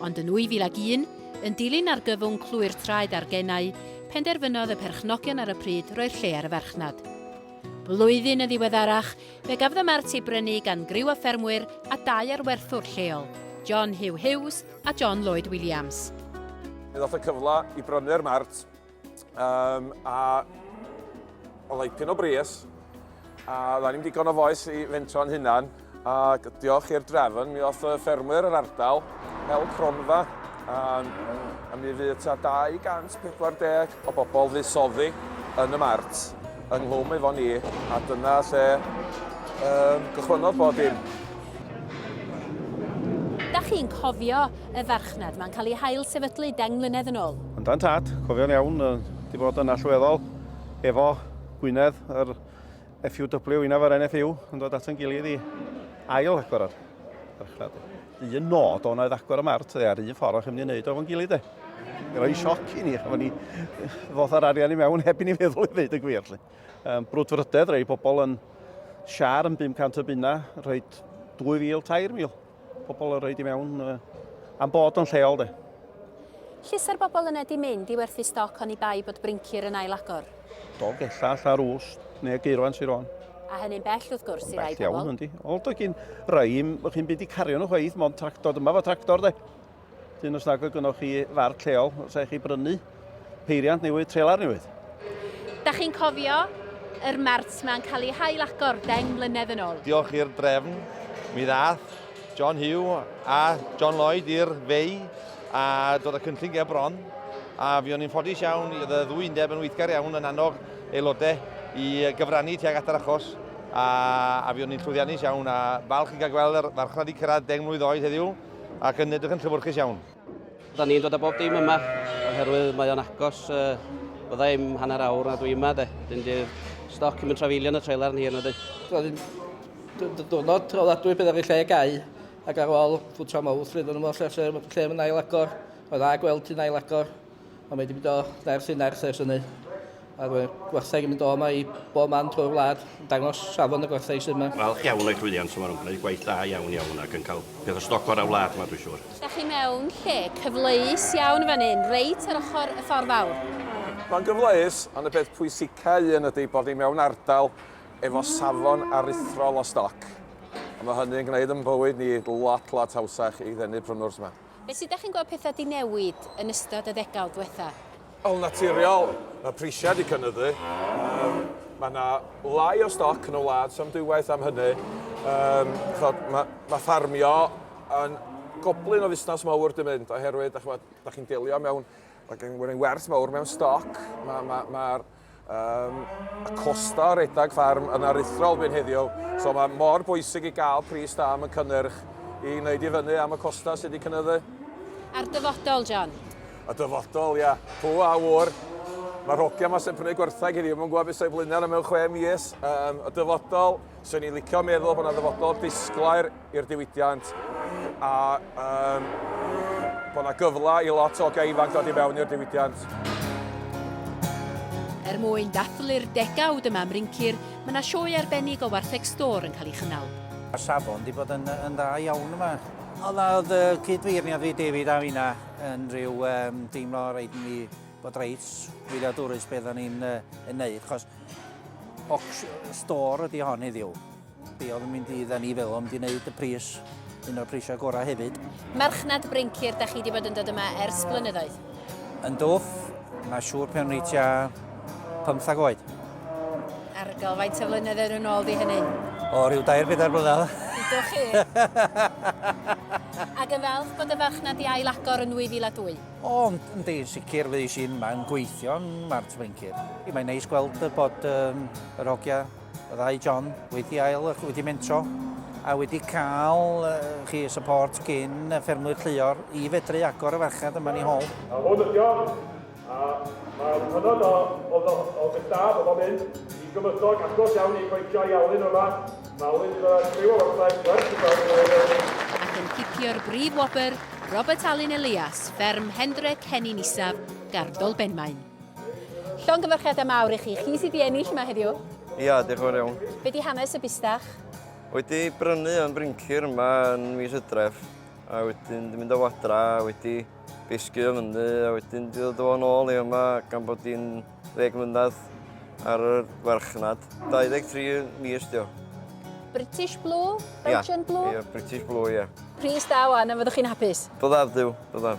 Ond yn 2001, yn dilyn argyfwng clwy'r traed a'r genau, penderfynodd y perchnogion ar y pryd roi'r lle ar y farchnad. Blwyddyn yn ddiweddarach, fe gafodd y mart ei brynu gan griw o ffermwyr a dau ar werthwr lleol, John Hugh Hughes a John Lloyd Williams. Fe ddoth y cyfle i brynu'r mart Um, a oedd ei pyn o bries, a dda ni'n digon o foes i fentro'n hynna'n, ac diolch i'r drefn, mi oedd y ffermwyr yr ardal hel cronfa, a, a mi fydd ta 240 o bobl fydd soddi yn y mart yng Nghlwm efo ni, a dyna lle um, gychwynnodd bod dim. Da chi'n cofio y farchnad. Mae'n cael ei hail-sefydlu deng mlynedd yn ôl. Yn dan tad, cofio'n iawn, wedi bod yn allweddol efo Gwynedd, yr FUW, unaf yr NFU, yn dod at yn gilydd i ail agor yr farchnad. Un nod o'n oedd agor y mart, dde, a'r un ffordd o'ch chi'n mynd i wneud o'n gilydd, dde. Mae'n rhoi sioc i ni, efo ni ddoth ar arian i mewn heb i ni feddwl i ddeud y gwir. Lle. Um, brwdfrydedd, rei bobl yn siar yn 500 o bunna, rhoi 2,000, 3,000. Pobl yn rhaid i mewn uh, am bod o'n lleol de. Llysa'r bobl yna di mynd i werthu stoc oni bai bod brincir yn ail agor. Do, gella, alla rws, neu geirwan sy'n rhan. A hynny'n bell wrth gwrs i rai pobl. Bell iawn, yndi. Ond o gyn raim, ych chi'n byd i cario nhw chweith, mae'n tractor, dyma fo tractor de. Dyn os nag oedd gynnwch chi far lleol, os eich chi brynu peiriant newydd, trelar newydd. Da chi'n cofio yr mart mae'n cael ei hail agor deng mlynedd yn ôl. Diolch i'r drefn, mi ddath John Hugh a John Lloyd i'r fei a dod y cynllun ger bron. A fi o'n i'n ffodus iawn, i oedd y ddwy undeb yn weithgar iawn yn annog aelodau i gyfrannu tuag at yr achos. A, a fi o'n i'n llwyddiannus iawn a falch i gael gweld yr farchnad i cyrraedd deng mlynedd oed heddiw. ac yn edrych yn llefwrchus iawn. Da ni'n dod â bob dim yma, oherwydd mae o'n agos, uh, bydda i'm hanner awr na dwi yma, de. Dyn di'r stoc yn mynd trafeilio yn y trailer yn hir na di. Diwrnod trafodadwy bydd ar ei lle gau, ac ar ôl ffwtio mawr llwyddo nhw mor lle, lle mae'n ail agor, mae'n dda gweld ti'n ail agor. A mae wedi mynd o nerth i nerth ers hynny. A mae gwerthau yn mynd o yma i bob man drwy'r wlad, yn dangos safon y gwerthau sydd yma. Falch iawn o'i llwyddiant yma, nhw'n gwneud gwaith da iawn iawn ac yn cael peth o stoc gorau'r wlad yma dwi'n siŵr. Dach chi mewn lle cyfleus iawn yn fan hyn, reit ar ochr y ffordd fawr. Mae'n gyfleus, ond y peth pwysicau un ydy bod ni mewn ardal efo safon aruthrol o stoc, a mae hynny'n gwneud yn bywyd ni lot lot hawsach i ddenu prynwrs yma. Be sut dach chi'n gweld petha di newid yn ystod y ddegawd dwetha? Yn naturiol, mae prisiau wedi cynyddu. Um, mae yna lai o stoc yn y wlad, sam dwywaith am hynny. Um, chod, mae, mae ffarmio yn goblyn o fusnes mawr di mynd, oherwydd, da chi'n delio mewn, mae gen i werth mawr mewn stoc, mae'r ma, ma, ma Um, y costa o redag ffarm yn aruthrol byn heddiw, so mae mor bwysig i gael pris da am y cynnyrch i wneud i fyny am y costa sydd wedi cynnyddu. A'r dyfodol, John? Y dyfodol, ia. Pw a wr. Mae rhogia yma sy'n prynu gwerthag heddiw, mae'n gwybod beth sy'n flaenau mewn chwe mis. Um, y dyfodol, sy'n ni'n licio meddwl bod yna ddyfodol disglair i'r diwydiant a um, bod yna gyfle i lot o gei ifanc dod i mewn i'r diwydiant. Er mwyn dathlu'r degawd yma Mrincir, mae yna sioe arbennig o wartheg stor yn cael ei chynnal. Mae safon wedi bod yn, yn dda iawn yma. Ond oedd y cydfeirniad fi David a finna yn rhyw um, deimlo rhaid ni bod reit wyliadwrus beth o'n ni'n uh, neud, chos stor ydy hon heddiw. Be oedd yn mynd i dda ni fel o'n di wneud y pris, un o'r prisau gorau hefyd. Merchnad Brincir, da chi wedi bod yn dod yma ers blynyddoedd? Yn dwf, mae siŵr pan o'n i tua 15 oed. Argol, faint o flynyddoedd yn ôl di hynny? O, rhyw dair bedair blynedd. Dydw chi. Ac yn falch bod y farchnad i ail agor yn 2002? O, yn di, sicr fydd i sy'n mae'n gweithio yn Mart Brincir. Mae'n neis gweld bod um, yr hogia Byddai John wedi ail wedi mentro a wedi cael chi support gyn y ffermwyr lleol i fedru agor y farchnad yma ni hol. A hwn ydi o, a mae'r hynod o, o, o, o gystad o bob un i gymysog agos iawn i goetio i Alun yma. Mae Alun iddo ers criw o wartheg gwerth i gael ei weld. Ac yn cipio'r brif wobr, Robert Alun Elias, fferm Hendrec Hennin Isaf, Gardol Benmaen. Llongyfarchiadau mawr i chi. Chi sydd wedi ennill yma heddiw. Ia, diolch yn fawr iawn. Be di hanes y bustach? Wedi brynu yn Brincir yma yn mis Hydref a wedyn di mynd o adra a wedi bisgu o fyny a wedyn di ddod o fo'n ôl i yma gan bod di'n ddeg mlynedd ar y farchnad. 23 mis di o. British Blue? Belgian yeah. Blue? Ia, yeah, British Blue, ia. Yeah. Pris da wan, a fyddwch chi'n hapus? Byddaf, Duw, byddaf.